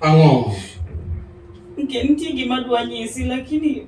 Ang'o? Nke nitie gima dwa nyisi lakini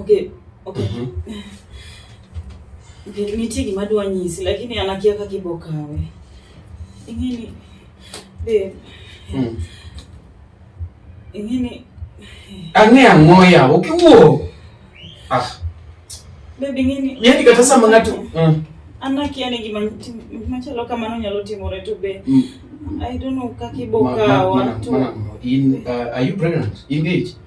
Okay, okay. Mm -hmm. Okay, nitie gima dwa nyisi lakini anakia kaka ibo kawe. Ingini babe. Mm. Ingini Ang'e ang'o ya ukiwuo. Ah. Babe ingini. Yaani kata sama ng'ato. Mm. Anakia ni gima machalo kamano nyalo timore to be. Mm. I don't know kaka ibo kawa. In uh, are you pregnant? Engage.